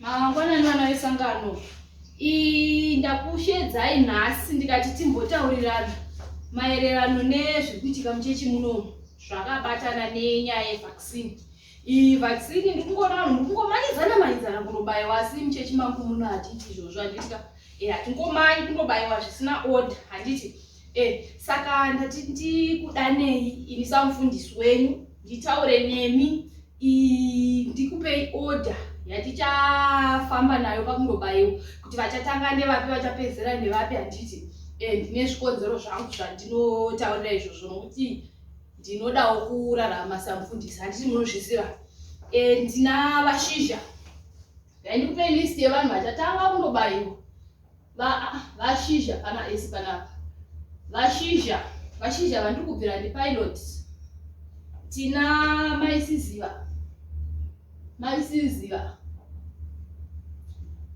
mangwanani vana vesangano ii ndakushedzai nhasi ndikati timbotaurirana maererano nezvekuitika muchechi muno zvakabatana nenyaya yevaccine iyi vaccine ndikungoona vanhu ndikungomanidzana manidzana kunobaiwa asi muchechi mangu muno hatiti izvozvo handitika e hatingomanyi kunobaiwa zvisina order handiti Eh, saka ndati ndikudanei ini samufundisi wenyu nditaure nemi ndikupei order yatichafamba nayo pakundobaiwa kuti vachatanga nevapi vachapedzera nevapi handiti eh, ndine zvikonzero zvangu zvandinotaurira izvozvo nokuti ndinodawo kurarama samufundisi handiti munozviziva eh, ndina vashizha ndandikupei list yevanhu vachatanga kundobaiwa vashizha pana esi panapa vashizha vashizha vandiri kubvira ndipilot tina maisiziva maisiziva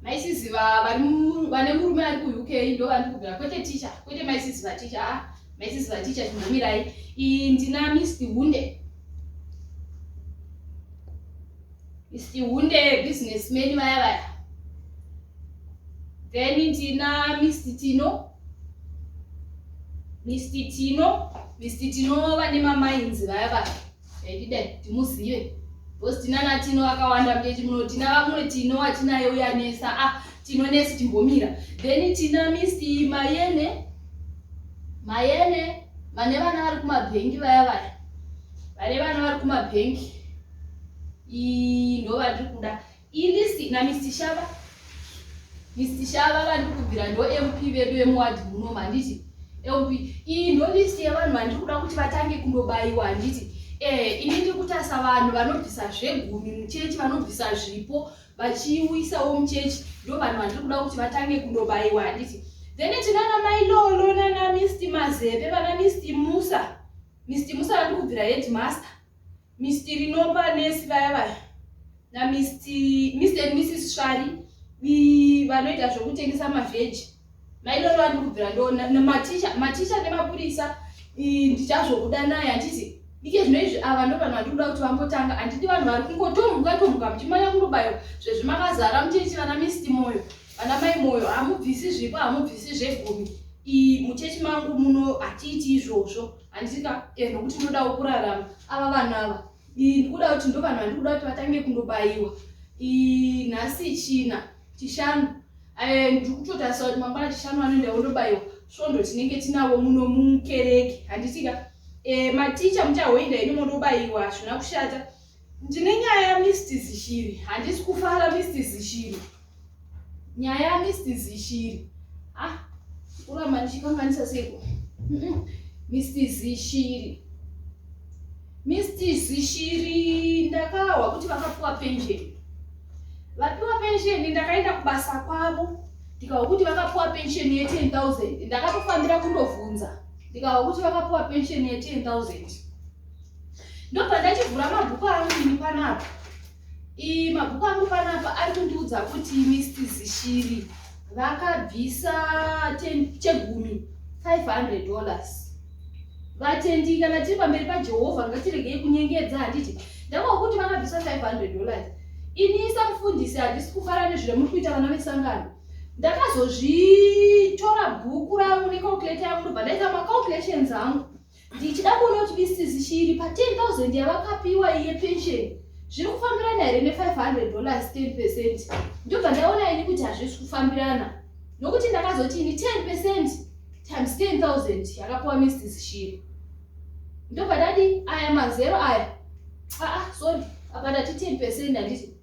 maisiziva vane murume ari kuuk ndo vandiri kubvira kwete ticha kwete maisiziva ticha a ah, maisiziva ticha chimbomirai ii ndina mist hunde mist hunde business man vaya vaya then tina mr tino mr tino mr tino vane mamainzi vaya va aidida timuzive bcause tinana tino vakawanda mtechi muno tina vamune tino watinaye uyanesa a ah, tino nesi timbomira then tina mr mayene mayene vane vana vari kumabhengi vaya vaya vane vana vari kumabhengi ii ndo vatiri kuda Ini na Mr Shava Mr Shava vandiri kubvira ndo MP vedu vemuwadhi munomu handiti LP iyi ndo list yevanhu vandiri kuda kuti vatange kundobaiwa handiti eh ini ndiri kutarisa vanhu vanobvisa zvegumi muchechi vanobvisa zvipo vachiuyisawo muchechi ndo vanhu vandiri kuda kuti vatange kundobaiwa handiti then tinana mai lolo nana mist mazepe vana mist musa mist musa vandiri kubvira headmaster Mister Rinopa nesi vaya vaya na Mister Mister and Mrs Shari vanoita zvekutengesa mavheji mairoro andi kubvira ndona maticha maticha nemapurisa ndichazvokuda naye handizi ike zvino izvi ava ndo vanhu vandikuda kuti vambotanga handidi vanhu vari kungotomhuka tomhuka muchimanya kungobayo zvezvi makazara muchechi vana misti moyo vana mai moyo hamubvisi zvipo hamubvisi zvegumi muchechi mangu muno hatiiti izvozvo handika eh, nokuti ndinodawo kurarama ava vanhu ava ii ndikuda kuti ndo vanhu vandikuda kuti vatange kundobayiwa ii nhasi china chishanu eh, ndiri kutotarisa kuti mangwana chishanu anoenda wondobayiwa svondo tinenge tinavo muno mukereke handitika eh, maticha muchahoinda ini mondobayiwa hazvina kushata Ndine nyaya Mr Zishiri. Handisi kufara Mr Zishiri. Nyaya Mr Zishiri. Ah, kuramba ndichikanganisa seiko. Mr Zishiri. Mr Zishiri ndakahwa kuti vakapiwa pension. Vapiwa pension ndakaenda kubasa kwavo. Ndikahwa kuti vakapiwa pension ye 10000. Ndakatofambira kundovhunza. Ndikahwa kuti vakapiwa pension ye 10000. ndobva ndachivhura mabhuku angu ini panapa ii mabhuku angu panapa ari kundiudza kuti misti zishiri vakabvisa chegumi 500 dollars vatendi kana tiri pamberi pajehovha ngatiregei kunyengedza handiti ndava kuti vakabvisa 500 dollars ini isa mufundisi handisi kufara nezvire muri kuita vana vesangano ndakazozvitora bhuku rangu necalculator yangu ndobva ndaita macalculations angu ndichida kuona kuti isizi chiri pa 10000 yavakapiwa iye pension zviri kufambirana here ne 500 dollars 10 percent ndobva ndaona ini kuti hazvisi kufambirana nokuti ndakazoti ini 10 percent times 10000 yakapiwa mrs shiri ndobva ndadi aya mazero aya aa ah, ah, sorry apa ndati 10 percent handiti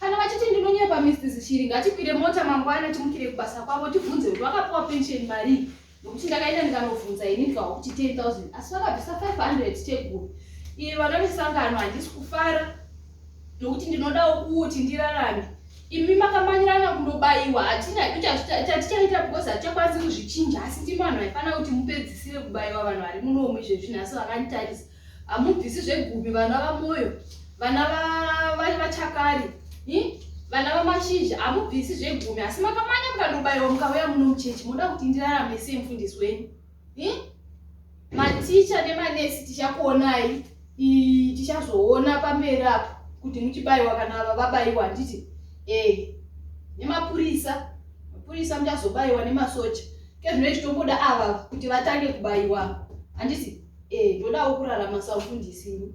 Kana vachiti ndinonyepa Mrs Shiri ngatikwire mota mangwana timukire kubasa kwavo tibvunze kuti vakapiwa pension marii nokuti ndakaenda ndikanovhunza ini ndikawa kuti 10000 asi vakabvisa 500 teguru iye vana vesangano handisi kufara nokuti ndinodawo kuti ndirarame imi makamanyirana kundobayiwa hatina tatichaita because hatichakwanisi kuzvichinja asi ndimi vanhu vaifanira kuti mupedzisire kubayiwa vanhu vari munomu izvezvi nhasi vakanditarisa Hamubvisi zvegupi vana vamoyo vana vachakari vana vamashizha hamubvisi zvegumi asi makamanya mukandobaiwa mukauya muno muchechi moda kuti ndirarame sei mufundisi wenyu maticha nemanesi tichakuonai tichazoona pamberi apo kuti muchibaiwa kana ava vabaiwa handiti e nemapurisa mapurisa muchazobaiwa nemasocha kezvino ichitomboda ava kuti vatange kubaiwa handiti e ndodawo kurarama saufundisi ini